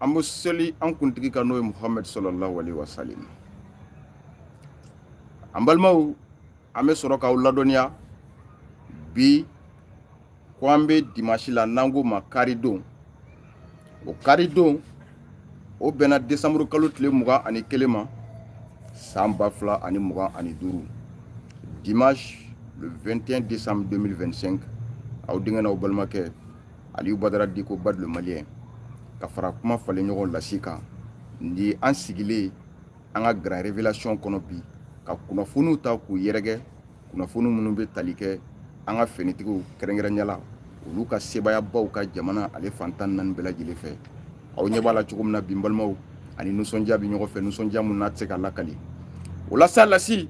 an bɛ seli an kuntigi kan n'o ye muhamadu sallallahu alaihi wa sallam an balimaw an bɛ sɔrɔ k'aw ladɔnniya bi ko an bɛ dimasi la n'an k'o ma karidon o karidon o bɛnna desanburu kalo tile mugan ani kelen ma san ba fila ani mugan ani duuru dimanche le 21 décembre 2025 aw denkɛ n'aw balimakɛ aliyu badara diko bad le malien ka fara kuma falen ɲɔgɔn lasi kan ni an sigilen an ka grand révélation kɔnɔ bi ka kunnafoniw ta k'u yɛrɛkɛ kunnafoni minnu bɛ tali kɛ an ka finitigiw kɛrɛnkɛrɛnya la olu ka sebayabaw ka jamana ale fan tan naani bɛɛ lajɛlen fɛ aw ɲɛ b'a la cogo min na bi n balimaw an ni nisɔndiya bɛ ɲɔgɔn fɛ nisɔndiya min n'a tɛ se ka lakali o la sa lasi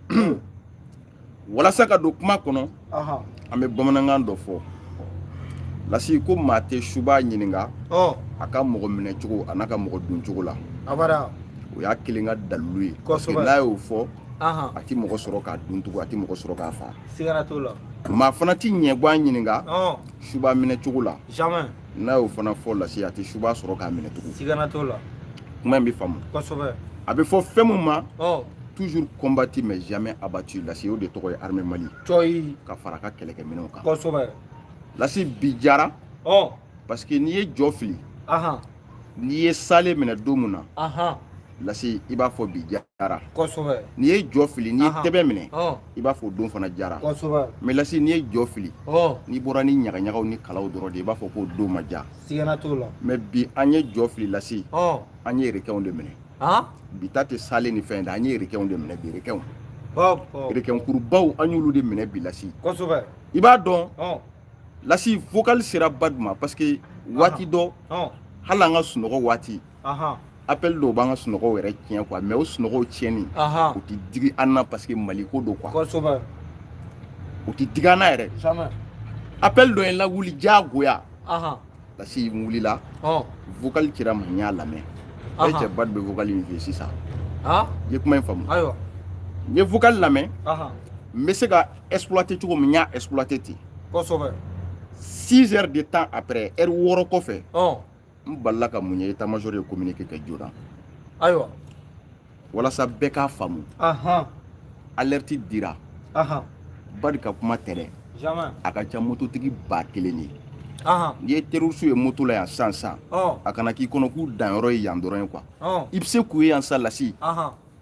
walasa ka don kuma kɔnɔ an bɛ bamanankan dɔ fɔ lasi ko maa tɛ suba ɲininka a ka mɔgɔ minɛ cogo an'a ka mɔgɔ dun cogo la o y'a kelen ka dalilu ye parce que n'a y'o fɔ a tɛ mɔgɔ sɔrɔ k'a dun tugun a tɛ mɔgɔ sɔrɔ k'a faa maa fana tɛ ɲɛguwan ɲininka suba minɛ cogo la n'a y'o fana fɔ lasi a tɛ suba sɔrɔ k'a minɛ tugun sigana t'o la kuma in bɛ faamu kosɛbɛ a bɛ fɔ fɛn min ma toujours combattu mais jamais abattu lasi o de tɔgɔ ye armée mali cɔyi ka fara ka kɛlɛkɛminɛnw kan kosɛbɛ lasi bi jara parce que n'i ye jɔ fili n'i ye salen minɛ don min na lasi i b'a fɔ bi jara kosɛbɛ n'i ye jɔ fili n'i ye tɛbɛn minɛ i b'a fɔ o don fana jara kosɛbɛ mais lasi n'i ye jɔ fili n'i bɔra ni ɲagaɲagaw ni kalaw dɔrɔn de i b'a fɔ k'o don ma ja sigana t'o la mais bi an ye jɔ fili lasi an ye requinw de minɛ bi ta tɛ salen ni fɛn da an ye requinw de minɛ bi requinw requin kurubaw an y'olu de minɛ bi lasi kosɛbɛ i b'a dɔn lasi vocal sera bad ma parce que waati dɔ hali an ka sunɔgɔ waati appel dɔw b'an ka sunɔgɔw yɛrɛ tiɲɛ quoi mais o sunɔgɔw tiɲɛni o tɛ digi an na parce que mali ko don quoi o tɛ digi an na yɛrɛ appel dɔ ye n lawuli diyagoya lasi n wulila vocal cira n ma n y'a lamɛn e cɛ bad bɛ vocal in fɛ sisan n ye kuma in faamu n ye vocal lamɛn n bɛ se k'a exploiter cogo min n y'a exploiter ten 6 heures de temps après heure wɔɔrɔ kɔfɛ n balila ka mun ye état-major ye communiqué kɛ joona ayiwa walasa bɛɛ k'a faamu alerte dira bad ka kuma tɛ dɛ a ka ca mototigi ba kelen de ye n'i ye terroriste ye moto la yan sisan sisan a kana k'i kɔnɔ k'u danyɔrɔ ye yan dɔrɔn ye quoi i bɛ se k'u ye yan sisan lasi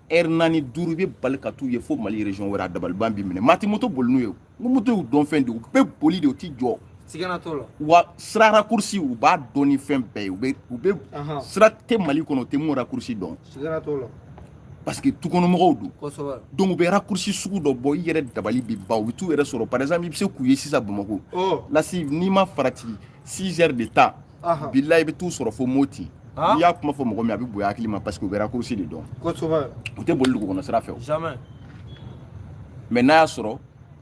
heure naani duuru i bɛ bali ka t'u ye fo mali région wɛrɛ a dabaliban b'i minɛ maa tɛ moto boli n'u ye moto y'u dɔn fɛn de u bɛ boli de u ti jɔ sigana t'o la wa sira rakursi u b'a dɔn ni fɛn bɛɛ ye u bɛ u bɛ sira tɛ mali kɔnɔ u tɛ mun rakursi dɔn sigana t'o la parce que tukɔnɔmɔgɔw don kosɛbɛ donc u bɛ rakursi sugu dɔ bɔ i yɛrɛ dabali bɛ ban u bɛ t'u yɛrɛ sɔrɔ par exemple i bɛ se k'u ye sisan bamakɔ lasi n'i ma farati 6 heures de temps Aha. bilayi i bɛ t'u sɔrɔ fo moti Ah. n'i y'a kuma fɔ mɔgɔ min a bɛ bonya hakili ma parce que u bɛ rakurusi de dɔn kosɛbɛ u tɛ boli dugukɔnɔ sira fɛ o jamais mais n'a y'a sɔrɔ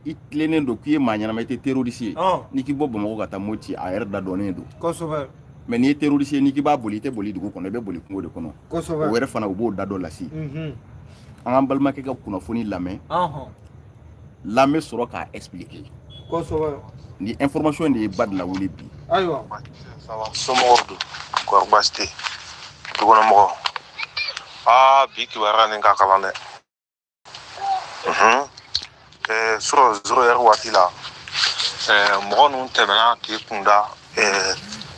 i tilennen don k'i ye maa ɲɛnama i tɛ terroriste ye Ah. n'i k'i bɔ bamakɔ ka taa moti a yɛrɛ da dɔnnen don kosɛbɛ mais n'i ye terroriste ye n'i k'i b'a boli i tɛ boli dugu kɔnɔ i bɛ boli kungo de kɔnɔ o kosɛbɛ yɛrɛ fana u b'o da dɔn lasi Mhm. an k'an balimakɛ ka kunnafoni lamɛn Ɔhɔn. an bɛ sɔrɔ k'a expliquer kosɛbɛ ni information de ye ba de lawuli bi ayiwa somɔgɔw dun kɔri baasi tɛ dukɔnɔmɔgɔ aa bi kibaruya nin ka kalan dɛ surɔ zéro heure waati la mɔgɔ ninnu tɛmɛna k'u kunda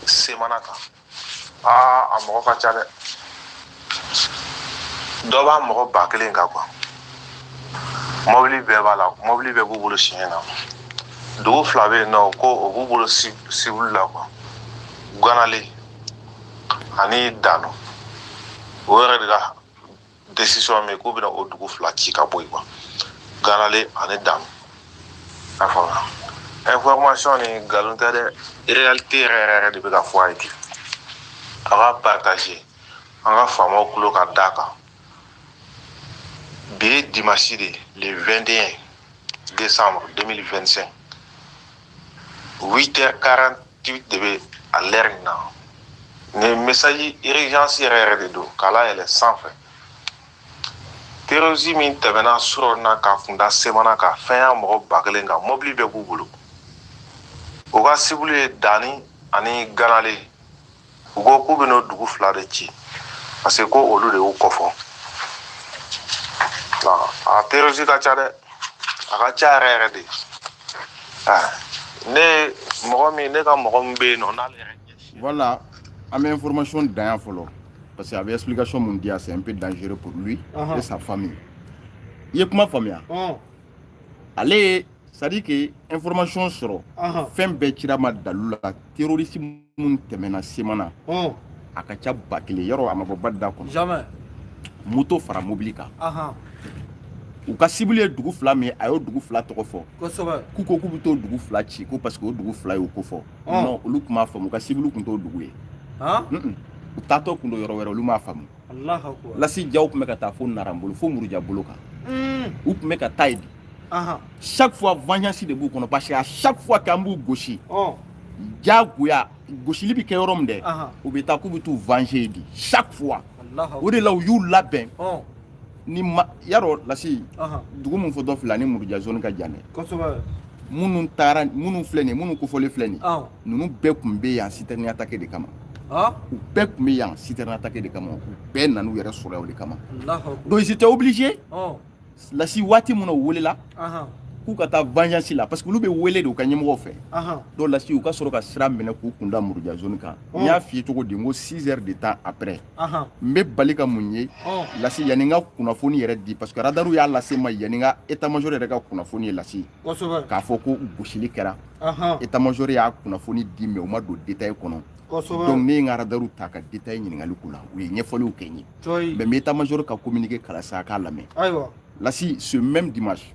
semana kan aa a mɔgɔ ka ca dɛ dɔ b'a mɔgɔ ba kelen kan quoi mɔbili bɛɛ b'a la mɔbili bɛɛ b'u bolo siɲɛ na dugu fila bɛ yen nɔ ko o b'u bolo sibulu la quoi ganale ani dano o yɛrɛ de ka décision min k'u bɛna o dugu fila ci ka bɔ yen quoi ganale ani dani a faamuya information ni nkalon tɛ dɛ réalité yɛrɛ yɛrɛ yɛrɛ de bɛ ka fɔ a ye ten a k'a partager an ka faamaw tulo ka da kan bi ye dimanche de le 21 décembre 2025 8h40 ti de bɛ a lɛri in na nin message urgence yɛrɛ yɛrɛ de don k'a layɛlɛ sanfɛ terroriste min tɛmɛna surɔ na k'a kunda semana kan fɛn y'a mɔgɔ ba kelen kan mɔbili bɛɛ b'u bolo u ka sibulu ye dani ani ganale u ko k'u bɛna o dugu fila de ci parce que ko olu de y'u kofɔ a terroriste ka ca dɛ a ka ca yɛrɛ yɛrɛ de ne mɔgɔ min ne ka mɔgɔ min bɛ yen nɔ n'ale yɛrɛ ɲɛsin voilà an bɛ information dan yan fɔlɔ parce que a bɛ explication mun di yan c'est un peu dangereux pour lui et sa famille i ye kuma faamuya ale ye c'est à dire que information sɔrɔ fɛn bɛɛ cira ma dalu la terroriste minnu tɛmɛna semana a ka ca ba kelen yɔrɔ a ma bɔ ba da kɔnɔ moto fara mobili kan u ka sibili ye dugu fila min a y'o dugu fila tɔgɔ fɔ k'u ko k'u bɛ t'o dugu fila ci ko parce que o dugu fila y'o ko fɔ non olu tun m'a faamu u ka sibili tun t'o dugu ye u taatɔ tun don yɔrɔ wɛrɛ olu m'a faamu lasi jaw tun bɛ ka taa fo nara bolo fo muruja bolo kan u tun bɛ ka taa yen de chaque fois vengeance de b'u kɔnɔ parce que à chaque fois k'an b'u gosi diyagoya gosili bɛ kɛ yɔrɔ min dɛ u bɛ taa k'u bɛ t'u venger yen de chaque fois o de la u y'u labɛn ni y'a dɔn lasi dugu min fɔtɔ filɛ nin muruja zone ka jan dɛ minnu taara minnu filɛ nin minnu kofɔlen filɛ nin ninnu bɛɛ tun bɛ yan citerne attaquer de kama u bɛɛ tun bɛ yan citerne attaquer de kama u bɛɛ nan'u yɛrɛ sɔrɔ yan o de kama donc ils étaient obligés lasi waati min n'u welela k'u ka taa vengeance la parce que olu bɛ wele de u ka ɲɛmɔgɔw fɛ donc lasi u ka sɔrɔ ka sira minɛ k'u kunda muruja zone kan n y'a f'i ye cogo di n ko 6 heures de temps après n bɛ bali ka mun ye lasi yanni n ka kunnafoni yɛrɛ di parce que radaru y'a lase n ma yanni n ka état-major yɛrɛ ka kunnafoni ye lasi k'a fɔ ko gosili kɛra état-major y'a kunnafoni di mais u ma don détail kɔnɔ donc ne ye n ka radaru ta ka détail ɲininkali k'u la u ye ɲɛfɔliw kɛ n ye mais n bɛ état-major ka communiqué kalan sa a k'a lamɛn lasi ce même dimanche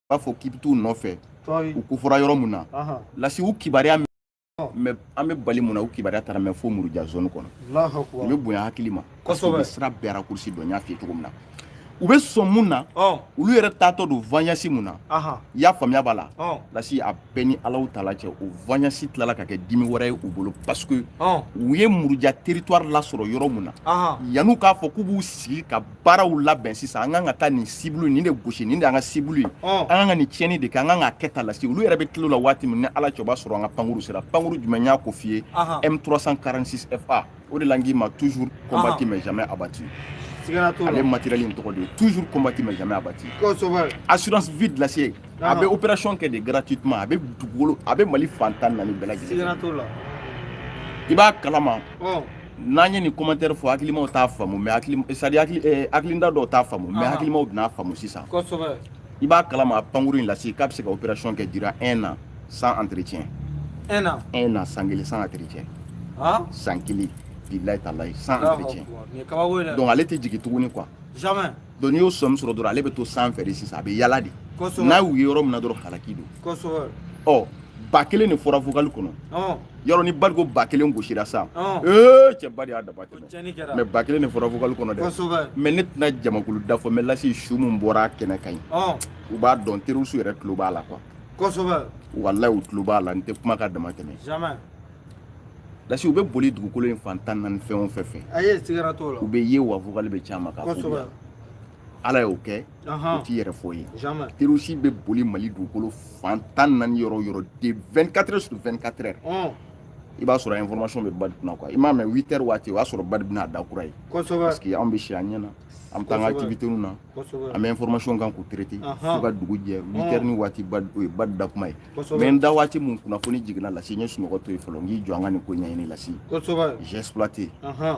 b'a fɔ k'i bɛ t'u nɔfɛ u kofɔra yɔrɔ min na lasi u kibaruya min mɛ an bɛ bali mun na u kibaruya taara mɛ fo muruja zone kɔnɔ u bɛ bonya hakili ma parce que u bɛ sira bɛɛ raccourci dɔn n y'a f'i ye cogo min na u bɛ sɔn mun na olu yɛrɛ taatɔ don vengeance min na i y'a faamuya b'a la lasi a bɛɛ ni ala taala cɛ o vengeance tilala ka kɛ dimi wɛrɛ ye u bolo parce que u ye muruja territoire lasɔrɔ yɔrɔ min na yan'u k'a fɔ k'u b'u sigi ka baaraw labɛn sisan an kan ka taa nin cible nin de gosi nin de an ka cible ye an kan ka nin tiɲɛni de kɛ an kan k'a kɛ tan lasi olu yɛrɛ bɛ tila o la waati min ni ala cɛ o b'a sɔrɔ an ka pankuru sera pankuru jumɛn n y'a ko f'i ye M346 FA o de la n k'i ma toujours combattu mais jamais abattu ale matériel in tɔgɔ de ye toujours combattu mais jamais abattu assurance vie de lasi a bɛ opération kɛ de gratuitement a bɛ dugukolo a bɛ Mali fan tan ni naani bɛɛ lajɛlen i b'a kalama n'an ye nin commentaire fɔ hakilimaw t'a faamu mais hakili c'est à dire hakili eh, hakilinda dɔw t'a faamu mais hakilimaw bɛn'a faamu sisan kosɛbɛ i b'a kalama a pankuru in lasi k'a bɛ se ka opération kɛ durant un an sans entretien un an un an san kelen sans entretien san kelen bilayi talayi sans entretien donc ale tɛ jigin tuguni quoi jamais Donc n'i y'o somme sɔrɔ dɔrɔn ale bɛ to sanfɛ de sisan a bɛ yaala de n'a y'u ye yɔrɔ min na dɔrɔn halaki don ɔ ba kelen de fɔra vocal kɔnɔ yɔrɔ ni ba ko ba kelen gosira sa ee cɛ ba de y'a dama mais ba kelen de fɔra vocal kɔnɔ dɛ mais ne tɛna jamakulu da fɔ mais lasi su min bɔra kɛnɛ kan u b'a dɔn terroriste yɛrɛ tulo b'a la quoi walayi u tulo b'a la n tɛ kuma ka dama tɛmɛ lasi u bɛ boli dugukolo in fan tan naani fɛn o fɛn fɛ a ye siga t'o la u bɛ ye wa vocal bɛ caman kan kosɛbɛ ala y'o kɛ o t'i yɛrɛ fɔ ye terroriste bɛ boli mali dugukolo fan tan naani yɔrɔ o yɔrɔ de 24 heures sur 24 heures i b'a sɔrɔ information bɛ badi kunna quoi i m'a mɛn 8 heures waati o y'a sɔrɔ badi bɛna a da kura ye kosɛbɛ parce que anw bɛ si an ɲɛ na an bɛ taa an ka activité na an bɛ information kan k'u traiter fo ka dugu jɛ 8 heures ni waati badi o ye badi da kuma ye mais n da waati mun kunnafoni jiginna lasi n ye sunɔgɔ to yen fɔlɔ n k'i jɔ an ka nin ko ɲɛɲini lasi j'ai exploité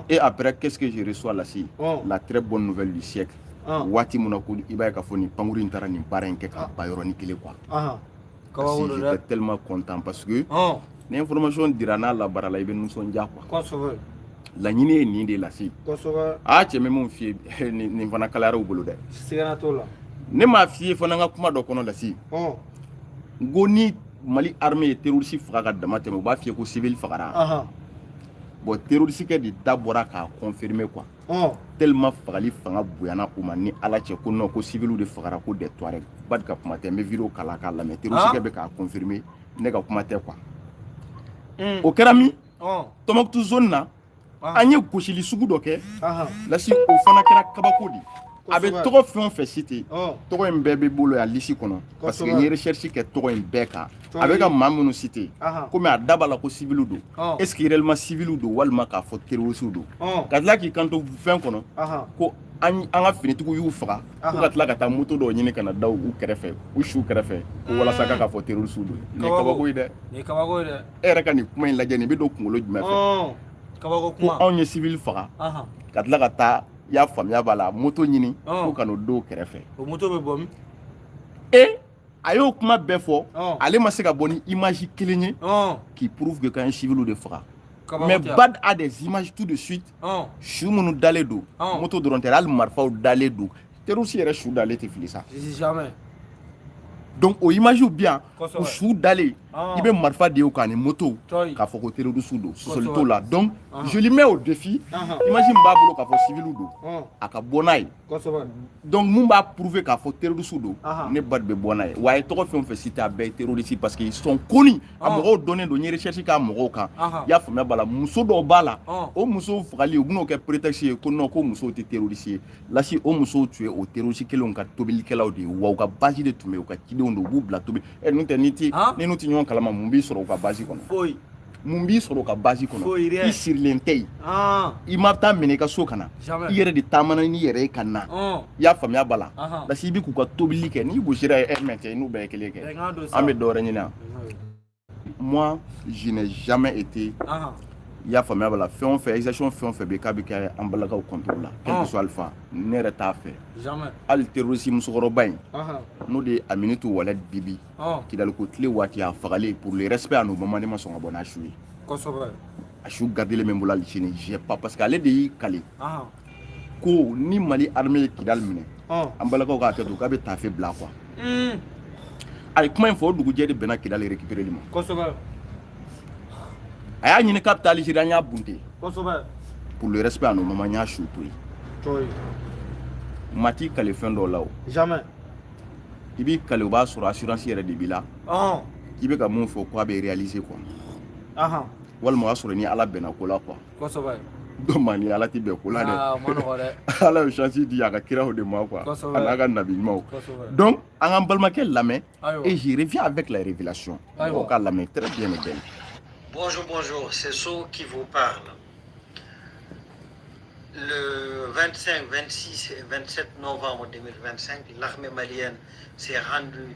et après qu'est ce que je reçois lasi la très bonne nouvelle du siècle waati mun na ko i b'a ye k'a fɔ nin pankuru in taara nin baara in kɛ k'a ban yɔrɔnin kelen quoi parce que j'étais tellement content parce que ni information dira n'a labaarala i bɛ nisɔndiya quoi laɲini ye nin de lasi aa cɛ bɛ min f'i ye nin fana kalayara u bolo dɛ ne m'a f'i ye fana n ka kuma dɔ kɔnɔ lasi n ko ni mali armée ye terroriste faga ka dama tɛmɛ u b'a fiyɛ ko civil fagara bon terroriste kɛ de da bɔra k'a confirmer quoi tellement fagali fanga bonyana u ma ni ala cɛ ko non ko civiliw de fagara ko des tuareg bad ka kuma tɛ n bɛ video kala k'a lamɛn terroriste kɛ bɛ k'a confirmer ne ka kuma tɛ quoi o kɛra min tombouctou zone na an ye gosili sugu dɔ kɛ lasi o fana kɛra kabako de a bɛ tɔgɔ fɛn o fɛn citer tɔgɔ in bɛɛ bɛ n bolo yan lisi kɔnɔ parce que n ye recherche kɛ tɔgɔ in bɛɛ kan a bɛ ka maa minnu citer komi a da b'a la ko siviliw don est ce que réellement siviliw don walima k'a fɔ terrorisiw don ka tila k'i kanto fɛn kɔnɔ ko an ka finitigiw y'u faga ko ka tila ka taa moto dɔw ɲini ka na da u kɛrɛfɛ u su kɛrɛfɛ ko walasa k'a fɔ terrorisiw don nin ye kabako ye dɛ nin ye kabako ye dɛ e yɛrɛ ka nin kuma in lajɛ nin bɛ don kunkolo jumɛn fɛ ɔn kabako ko kuma anw ye civil faga ahan ka tila ka taa i y'a faamuya b'a la moto ɲini Ɔn. ko ka n'o da u kɛrɛfɛ o moto bɛ bɔ min e a y'o kuma bɛɛ fɔ Ɔn. ale ma se ka bɔ ni image kelen ye ɔn qui prouve que k'an ye civiliw de faga kabako mais tɛ yan. bad a des images tout de suite ɔn su minnu dalen don Ɔn. moto dɔrɔn tɛ hali marifaw dalen don terroriste yɛrɛ su dalen tɛ fili sa jamais donc o image bɛ yan u su dalen ah. i bɛ marifa de ye k'a ni moto k'a fɔ ko terroriste don sɔsɔli t'o la donc ah. je lui mets au défi ah. image min b'a bolo k'a fɔ civil don a ka bɔ n'a ye donc mun b'a prouver k'a fɔ terroriste don ne bad bɛ bɔ n'a ye wa a ye tɔgɔ fɛn o fɛn citer a bɛɛ ye terroriste parce que ils sont connus a mɔgɔw dɔnnen don n ye recherche k'a mɔgɔw kan i y'a faamuya b'a la muso dɔw b'a la o musow fagali u bɛn'o kɛ prétexte ye ko non ko musow tɛ terroriste ye lasi o musow tun ye o terroriste kelenw ka tobilikɛlaw de ye wa u ka base de tun bɛ u ka cidenw don u b'u bila tobi ɛ n'o tɛ ni ti ni n'u tɛ ɲɔgɔn kalama mun b'i sɔrɔ u ka base kɔnɔ foyi mun b'i sɔrɔ u ka base kɔnɔ i sirilen tɛ yen i ma taa minɛ i ka so ka na i yɛrɛ de taamana n'i yɛrɛ ye ka na i y'a faamuya b'a la lasi i bɛ k'u ka tobili kɛ n'i gosira ɛ mais cɛ n'u bɛɛ ye kelen kɛ an bɛ dɔwɛrɛ ɲini Moi, je n'ai jamais été. Ah. i y'a faamuya b'a la fɛn o fɛn exaction fɛn o fɛn bɛ k'a bɛ kɛ an balakaw contrôle la quel que ah. soit alpha ne yɛrɛ t'a fɛ jamais hali terroriste musokɔrɔba in ah. n'o de ye Aminatu Walet Bibi ah. kidaliko tile waati a fagalen pour le respect à nos mamans ne ma sɔn ka bɔ n'a su ye kosɛbɛ a su gardelen bɛ n bolo hali sini j'ai pas parce que ale de y'i kale ko ni mali armée ye kidali minɛ an balakaw k'a kɛ to k'a bɛ taafe bila quoi a ye kuma in fɔ o dugujɛ de bɛnna kidali récupéreli ma kosɛbɛ a y'a ɲini k'a bɛ taa alizeri an y'a bunte kosɛbɛ pour le respect à nos mamans n y'a su to yen maa t'i kale fɛn dɔw la o jamais i b'i kale o b'a sɔrɔ assurance yɛrɛ de b'i la k'i bɛ ka mun fɔ ko a bɛ réaliser quoi walima o y'a sɔrɔ ni ala bɛnna ko la quoi kosɛbɛ donc maa ni ala tɛ bɛn ko la dɛ ah, ala ye chance di a ka kiraw de ma quoi a n'a ka nabi ɲumanw donc an k'an balimakɛ lamɛn et je reviens avec la révélation mɔgɔw k'a lamɛn très bien et bien bonjour bonjour c'est So qui vous parle le 25, 26 et 27 novembre 2025, l'armée malienne s'est rendue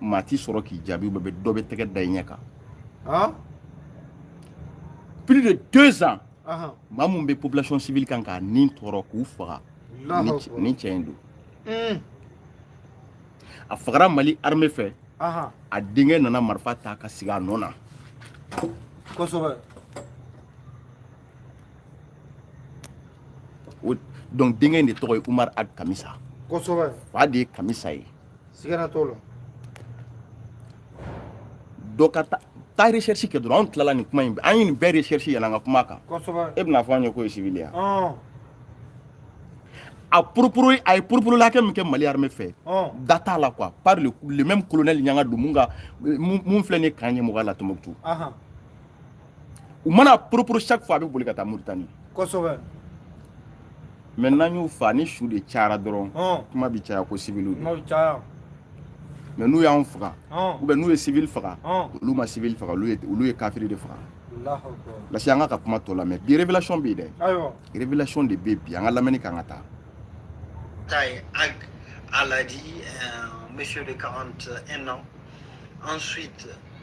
maa t'i sɔrɔ k'i jaabi bɛɛ bɛ dɔ bɛ tɛgɛ da i ɲɛ kan plus de deux ans maa mun bɛ population civile kan k'a ni tɔɔrɔ k'u faga nin cɛ in don hmm. a fagara mali armée fɛ a denkɛ nana marifa ta ka sigi a nɔ na kosɛbɛ donc denkɛ in de tɔgɔ ye umar ag kamisa kosɛbɛ fa de ye kamisa ye sigana t'o la donc taa recherche kɛ dɔrɔn an tilala nin kuma in an ye nin bɛɛ recherche yanni an ka kuma a kan kosɛbɛ e bɛna fɔ an ye k'o ye civil ye a purupuru a ye purupuru hakɛ min kɛ mali armée fɛ dan t'a la quoi par le, le même colonel ɲangado mun ka mun filɛ nin ye k'an ɲɛmɔgɔya la tɔmɔkutu u mana poroporo chaque fois a bɛ boli ka taa Mauritanie kosɛbɛ mais n'an y'u fa ni su de cayara dɔrɔn kuma bɛ caya ko siviliw mais n'u y'anw faga ou bien n'u ye sivili faga olu ma sivili faga olu ye kafiri de faga parce que an ka ka kuma tɔ la mais bi révélation bɛ yen dɛ révélation de bɛ bi an ka lamɛnni k'an ka taa taye ag aladi monsieur de 41 ans ensuite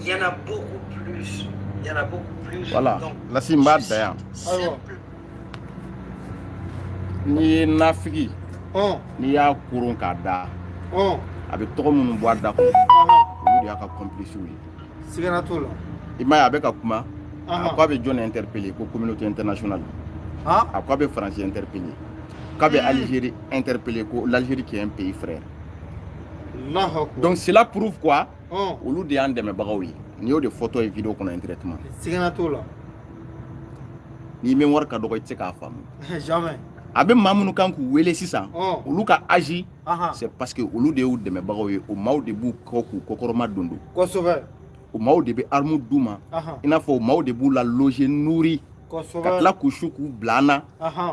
Il y en a beaucoup plus. Il y en a beaucoup plus. Voilà. Donc, la simba da yan. Ayiwa. N'i ye nafigi. Ɔn. N'i y'a koron k'a da. Ɔn. A bɛ tɔgɔ minnu bɔ a da kɔnɔ. Olu de y'a ka complices ye. Sigana t'o la. I m'a ye a bɛ ka kuma. A ko a bɛ jɔn interpeller ko communauté internationale. Han. A ko a bɛ Faransi interpeller. K'a bɛ Algérie interpeller ko l'Algérie qui est un pays frère. Donc cela prouve quoi? olu de y'an dɛmɛbagaw ye n'i y'o de fɔtɔ ye video kɔnɔ indirectement sigana t'o la n'i mémoire ka dɔgɔ i tɛ se k'a faamu jamais a bɛ maa minnu kan k'u wele sisan olu ka agir c'est parce que olu de y'u dɛmɛbagaw ye o maaw de b'u kɔ k'u kɔkɔrɔma don don kosɛbɛ o maaw de bɛ armu d'u ma i n'a fɔ o maaw de b'u la loger nourri ka tila k'u su k'u bila an na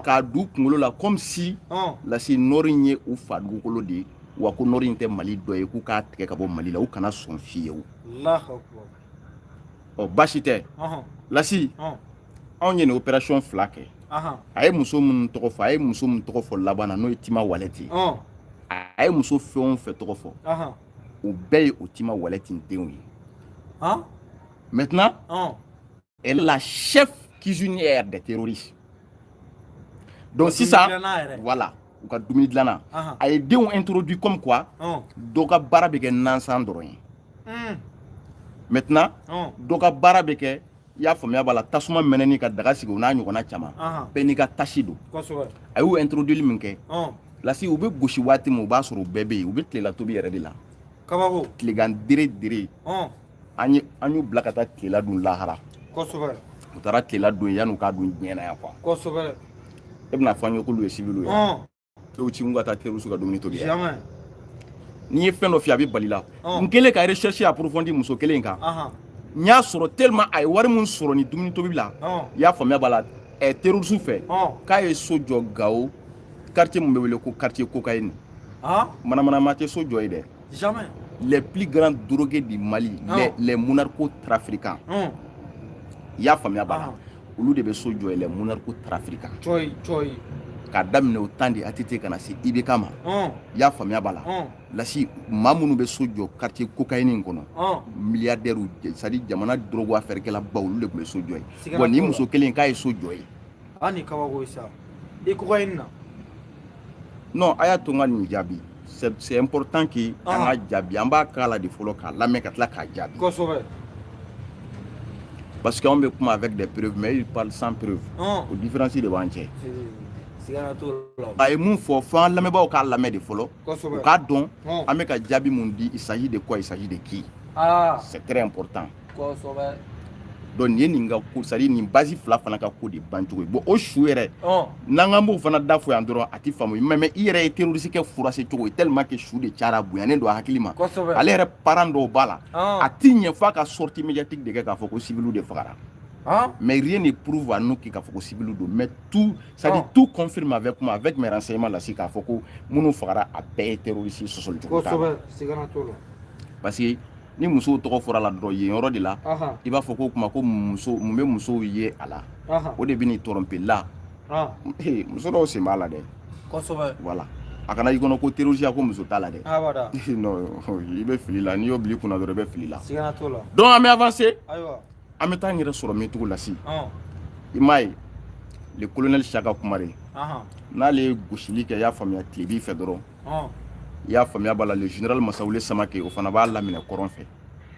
k'a d'u kunkolo la comme si lasi nɔri ye u fa dugukolo de ye wa ko nɔri in tɛ mali dɔ ye k'u k'a tigɛ ka bɔ mali la u kana sɔn fiyewu ɔ baasi tɛ lasi anw ye nin opération fila kɛ a ye muso minnu tɔgɔ fɔ a ye muso min tɔgɔ fɔ laban na n'o ye tima walɛti a ye muso fɛn o fɛn tɔgɔ fɔ o bɛɛ ye o tima walɛti denw ye maintenant elle est la chef cuisinière des terroristes donc sisan voilà u ka dumuni dilanna a ye denw introduit comme quoi oh. dɔ ka baara bɛ kɛ nansan dɔrɔn ye hmm. maintenant oh. dɔ ka baara bɛ kɛ i y'a faamuya b'a la tasuma mɛnɛni ka daga sigi o n'a ɲɔgɔnna caman bɛɛ n'i ka tasi don a y'u introduit min kɛ oh. lasi u bɛ gosi waati min u b'a sɔrɔ u bɛɛ bɛ yen u bɛ tilela tobi yɛrɛ de la kabako tilegan dere dere an y'u bila ka taa tlela dun lahara u taara tlela dun yann'u k'a dun diɲɛ na yan quoi e bɛna fɔ an ye k'olu ye civiliw ye k'u ci ka taa terroriste ka dumuni tobi ni n ye fɛn dɔ f'i ye a bɛ bal'i la n kɛlen ka recherche approfondie muso kelen kan n y'a sɔrɔ tellement a ye wari min sɔrɔ nin dumuni tobi la i y'a faamuya b'a la ɛ terroriste fɛ k'a ye so jɔ gawo quartier min bɛ wele ko quartier cocaïne manamana maa tɛ so jɔ yen dɛ Jamais. Les plus grands drogués du Mali, ah. les, les monarchos trafiquants. Ah. i y'a faamuya b'a la olu de bɛ so jɔ yen les monarchos trafiquants cɔyi cɔyi k'a daminɛ au temps de ATT ka na se ibk ma i y'a faamuya b'a la lasi maa minnu bɛ so jɔ quartier cocaïne in kɔnɔ milliardaires c'est à dire jamana drogue affaire kɛla baw olu de tun bɛ so jɔ yen bon nin muso kelen k'a ye so jɔ yen a ni kabako ye sa i cocaïne na non a y'a to n ka nin jaabi c'est important que ah. an ka jaabi an b'a kalan de fɔlɔ k'a lamɛn ka tila k'a jaabi kosɛbɛ parce que anw bɛ kuma avec des preuves mais il parle sans preuve ah. o différence de b'an cɛ a ye mun fɔ fo an lamɛnbaaw k'a lamɛn de fɔlɔ u k'a dɔn ah. an bɛ ka jaabi mun di il s'agit de quoi il s'agit de qui c'est très important kosɛbɛ donc nin ye nin ka ko c'est à dire nin base fila fana ka ko de bancogo ye bon o su yɛrɛ n'an k'an b'o fana da fɔ yan dɔrɔn a ti faamu mais mais i yɛrɛ ye terroriste kɛ furase cogo ye tellement que su de cayara bonyanen don a hakili ma ale yɛrɛ parent dɔw b'a la a ti ɲɛ f'a ka sortie médiatique de kɛ k'a fɔ ko civiliw de fagara Hein? Mais rien ne prouve à nous k'a fɔ ko civil don. Mais tout, c'est à dire oh. tout confirme avec moi, avec mes renseignements là, c'est k'a fɔ ko minnu fagara a bɛɛ ye terroriste sɔsɔli cogo t'a la parce que ni musow tɔgɔ fɔra la dɔrɔn yen yɔrɔ de la i b'a fɔ ko kuma ko muso mun bɛ musow ye a la o de bɛ n'i tromper la muso dɔw sen b'a la dɛ kosɛbɛ voilà a kana i kɔnɔ ko terroriste ko muso t'a la dɛ i bɛ fili la n'i y'o bil'i kun na dɔrɔn i bɛ fili la donc an bɛ avancer an bɛ taa an yɛrɛ sɔrɔ min tugun Lasi i m'a ye le colonel Siaka Kumare n'ale ye gosili kɛ i y'a faamuya tilebin fɛ dɔrɔn i y'a faamuya b'a la le général Masawule Samake o fana b'a laminɛ kɔrɔn fɛ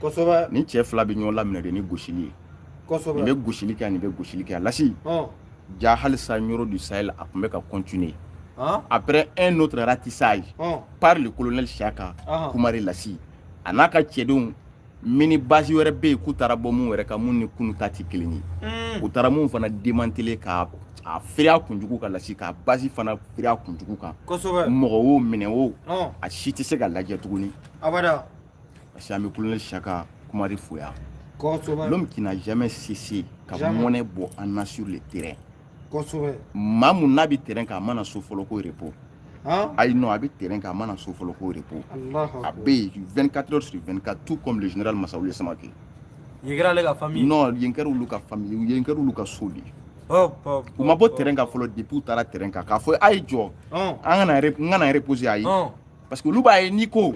kosɛbɛ nin cɛ fila bɛ ɲɔgɔn laminɛ de ni gosili ye kosɛbɛ nin bɛ gosili kɛ nin bɛ gosili kɛ Lasi ja halisa Nioro du Sahel a tun bɛ ka continuer après un autre ratissage par le colonel Siaka Kumare Lasi a n'a ka cɛdenw mini base wɛrɛ bɛ yen k'u taara bɔ mun wɛrɛ kan mun ni kunu ta tɛ kelen ye mm. u taara mun fana démanteler ka a firi a kun jugu kan Lasi ka base fana firi a kun jugu kan mɔgɔ o minɛn o a si tɛ se ka lajɛ tuguni parce que an bɛ colonel Siaka Kumare fo yan l'homme qui n'a jamais cessé ka mɔnɛ bɔ an na sur le terrain maa mun n'a bɛ terrain kan a mana so fɔlɔ ko repos ayi non a bɛ terrain kan a mana so fɔlɔ ko repos a bɛ yen 24 heures sur 24 tout comme le général Masawule Samake yen kɛra ale ka famille non yen kɛra olu ka famille yen kɛra olu ka so de ye u ma bɔ terrain kan fɔlɔ depuis u taara terrain kan k'a fɔ a ye jɔ an ka na n ka na reposer ayi parce que olu b'a ye n'i ko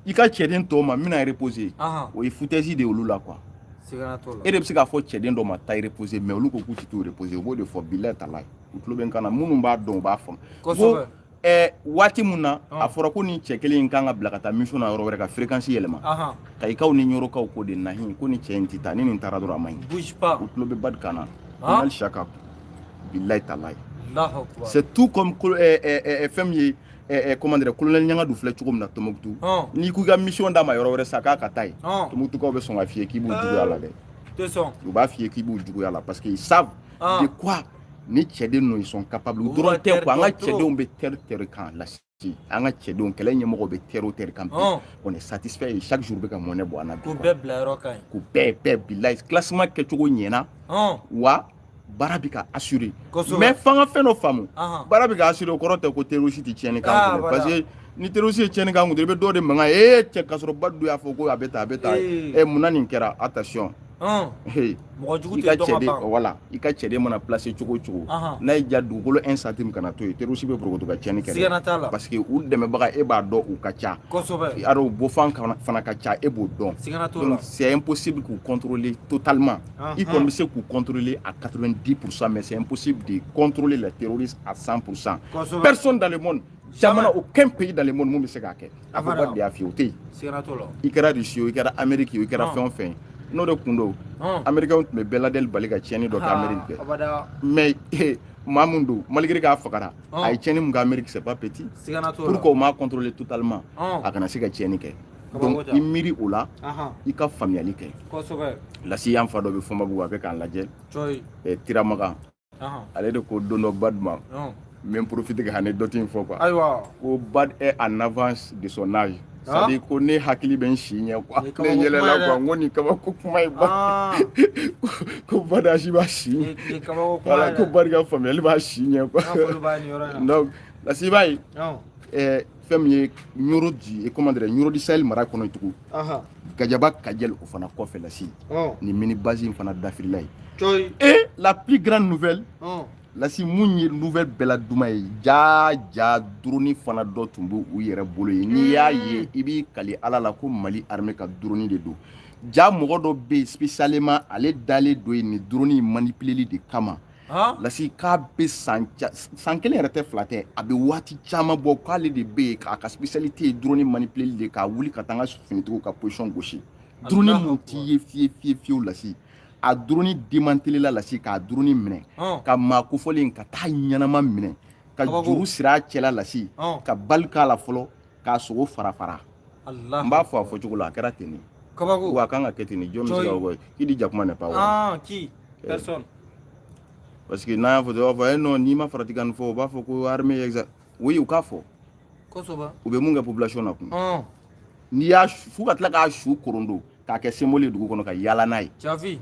i ka cɛden tɔw ma n bɛna reposer o ye foutaise de ye olu la quoi e de bɛ se k'a fɔ cɛden dɔ ma taa reposer mais olu ko k'u tɛ t'u reposer u b'o de fɔ bilayi talayi u tulo bɛ n kan na minnu b'a dɔn u b'a faamu ko ɛɛ waati min na a fɔra ko nin cɛ kelen in kan ka bila ka taa mission na yɔrɔ wɛrɛ ka fréquence yɛlɛma Kayikaw ni Ɲorokaw ko de nahi ko nin cɛ in tɛ taa ni nin taara dɔrɔn a man ɲi bouge pas u tulo bɛ Badu kan na colonel Shaka bilayi talayi c'est tout comme fɛn min ye Eh, comment dire colonel Ɲangadu filɛ cogo min na Tombouctou n'i ko i ka mission d'a ma yɔrɔ wɛrɛ sa k'a ka taa yen Tombouctoukaw bɛ sɔn k'a f'i ye k'i b'u juguya la dɛ u b'a f'i ye k'i b'u juguya la parce que ils savent ah. de quoi nin cɛden ninnu sont capables u dɔrɔn tɛ quoi an ka cɛdenw bɛ terrain terrain kan Lasi an ka cɛdenw kɛlɛ ɲɛmɔgɔw bɛ terrain o terrain kan bi ah. on est satisfait chaque jour bɛ ka mɔnɛ bɔ an na bi k'u bɛɛ bila yɔrɔ ka ɲi k'u bɛɛ bɛɛ bilayi classement kɛcogo ɲɛna ah. wa baara bɛ ka assurer mais f'an ka fɛn dɔ faamu baara bɛ ka assurer o kɔrɔ tɛ ko terroriste tɛ tiɲɛni k'an kun parce que ni terroriste ye tiɲɛni k'an kun i bɛ dɔ de mankan ye ee cɛ kasɔrɔ Badu y'a fɔ ko a bɛ tan a bɛ tan ɛ munna nin kɛra attention mɔgɔ jugu tɛ dɔn ka ban voilà i ka cɛden mana placer cogo o cogo n'a y'i ja dugukolo un centime kana to yen terroriste bɛ borokoto ka tiɲɛni kɛ sigana t'a la parce que u dɛmɛbaga e b'a dɔn u ka ca kosɛbɛ alors u bɔfan fana ka ca e b'o dɔn sigana t'o la donc c'est impossible k'u contrôler totalement i kɔni bɛ se k'u contrôler à 90 pour cent mais c'est impossible de contrôler les terroristes à 100 pour cent personne dans le monde jamana aucun pays dans le monde mun bɛ se k'a kɛ a fɔ bad de y'a f'i ye o tɛ yen i kɛra rusi o i kɛra ameriki o i kɛra fɛn o fɛn n'o de kun don amerikɛnw tun bɛ ben laden bali ka tiɲɛni dɔ kɛ ameriki kɛ mais eh, maa min don malgré k'a fagara a ye tiɲɛni mun kɛ ameriki c'est pas petit pourquoi o m'a contrôler totalement a kana se ka tiɲɛni kɛ donc i miiri o la i ka faamuyali kɛ lasi an fa dɔ bɛ fɔnbabugu a bɛ k'an lajɛ eh, tiramagan ale de ko don dɔ bad ma n bɛ profiter ka anecdote in fɔ quoi ayiwa ko bad est en avance de son âge c'est-à-dire ko ne hakili bɛ n si ɲɛ quoi ne yɛlɛla quoi n ko nin kabako kuma ye ba ko bad âge b'a si ɲɛ voilà ko bad ka faamuyali b'a si ɲɛ quoi donc lasi i b'a ye fɛn min ye ɲoro du comment dirais ɲoro du sahel mara kɔnɔ tugun gajaba kajɛl o fana kɔfɛ lasi nin mini base in fana dafirila ye et la plus grande nouvelle lasi mun ye nouvelle bɛɛ la duma ye jaa jaa drone fana dɔ tun b'u yɛrɛ bolo ye n'i y'a hmm. ye i b'i kali ala la ko mali armée ka drone de don ja mɔgɔ dɔ bɛ yen spécialement ale dalen don yen nin drone manipuleli de kama lasi k'a bɛ san san kelen yɛrɛ tɛ fila tɛ a bɛ waati caman bɔ k'ale de bɛ yen k'a ka spécialité ye drone manipuleli de k'a wuli ka taa an ka finitigiw ka position gosi drone mun t'i ye fiye fiye fiyew lasi a drone démantelela lasi k'a drone minɛ ka maa kofɔlen ka taa ɲɛnama minɛ ka juru siri a cɛla lasi ka bali k'a la fɔlɔ k'a sogo fara fara n b'a fɔ a fɔ cogo la a kɛra ten de kabako wa a kan ka kɛ ten de jɔn bɛ se k'a fɔ k'i di jakuma n'est pas vrai qui personne parce que n'an y'a fɔ dɔrɔn u b'a fɔ e non n'i ma farati ka nin fɔ u b'a fɔ ko armée exa oui u k'a fɔ kosɛbɛ u bɛ mun kɛ population na kun n'i y'a faa ka tila k'a su korondo k'a kɛ symbole ye dugu kɔnɔ ka yaala n'a ye jafi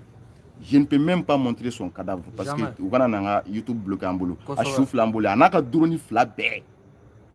je ne peux même pas montrer son cadavre parce que u kana na n ka youtube bloquer an bolo a su fila an bolo a n'a ka drone fila bɛɛ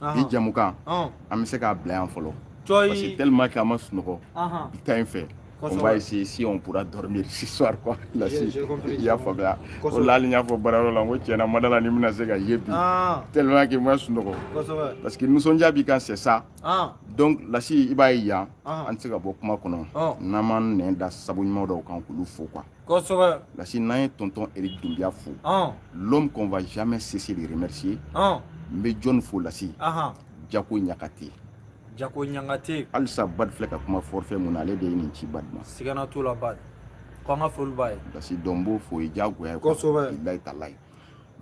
bi jamukan an bɛ se k'a bila yan fɔlɔ parce que tellement que an ma sunɔgɔ bi ta in fɛ on va essayer si on pourra dormir ce soir quoi lasi i y'a faamuya o la hali n y'a fɔ baarayɔrɔ la n ko tiɲɛ na n ma da a la ni n bɛna se ka ye bi tellement que n ma sunɔgɔ parce que nisɔndiya b'i kan c'est ça donc lasi i b'a ye yan an tɛ se ka bɔ kuma kɔnɔ n'an m'an nɛn da sabu ɲuman dɔw kan k'olu fo quoi Kosɛbɛ. Parce que n'an ye tonton Eric Dunbiya fo. Ɔn! L'homme qu'on va jamais cesser de remercier . Ɔn! N bɛ jɔni fo Lasi? Ahan! Jako Ɲakate. Jako Ɲakate. Halisa Bad filɛ ka kuma forfait mun na, ale de ye nin ci Bad ma. Siga na t'o la Bad. Ko an ka foli b'a ye. Lasi donc n b'o fo, o ye diyagoya ye. Kosɛbɛ! Bilahi talahi.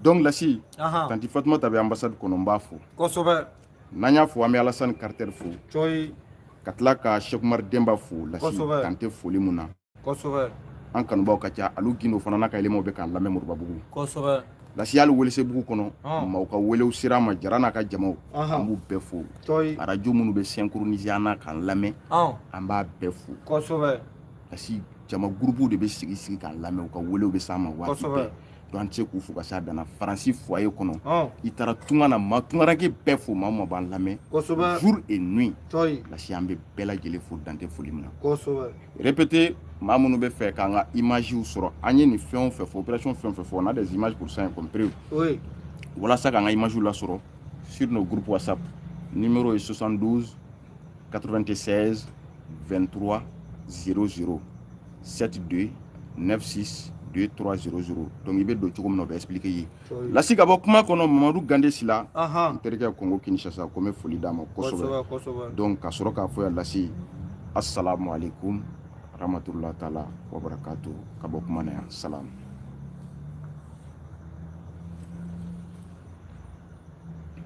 Donc Lasi. Ahan! Tanti Fatumata bɛ ambassade kɔnɔ, n b'a fo. Kosɛbɛ! N'an y'a fo, an bɛ Alasani Carter fo. Cɔyi! Ka tila ka Cheick Oumar Denba fo Lasi. Kosɛbɛ! Dan tɛ foli mun na. an kanubaw ka ca alu gindo fana n'a ka éléments bɛ k'an lamɛn moribabugu lasi hali welesebugu kɔnɔ maaw ka welew ser'an ma jara n'a ka jamaw an b'u bɛɛ fo arajo minnu bɛ synchronisé an na k'an lamɛn an b'a bɛɛ fo lasi jama gurupuw de bɛ sigi sigi k'an lamɛn u ka welew bɛ s'an ma waati bɛɛ donc an tɛ se k'u fo ka se a dan na faransi foyer kɔnɔ i taara tunga na ma tungaranke bɛɛ fo maa o maa b'an lamɛn jour et nuit lasi an bɛ bɛɛ lajɛlen fo dan tɛ foli min na répété maa minnu b'a fɛ k'an ka image sɔrɔ an ye nin fɛn o fɛn fɔ opération fɛn o fɛn fɔ on a des images pour ça compris walasa k'an ka image lasɔrɔ sur nos groupes whatsapp numéro ye 72 96 23 00 72 96 2300 donc i bɛ don cogo min na o bɛ expliquer i ye lasi ka bɔ kuma kɔnɔ mamadu gande sila n terikɛ kongo kinshasa ko n bɛ foli d'a ma kosɛbɛ donc ka sɔrɔ k'a fɔ yan lasi assalamu alaikum wa rahmatullahi taala wa barakatu ka bɔ kuma na yan salam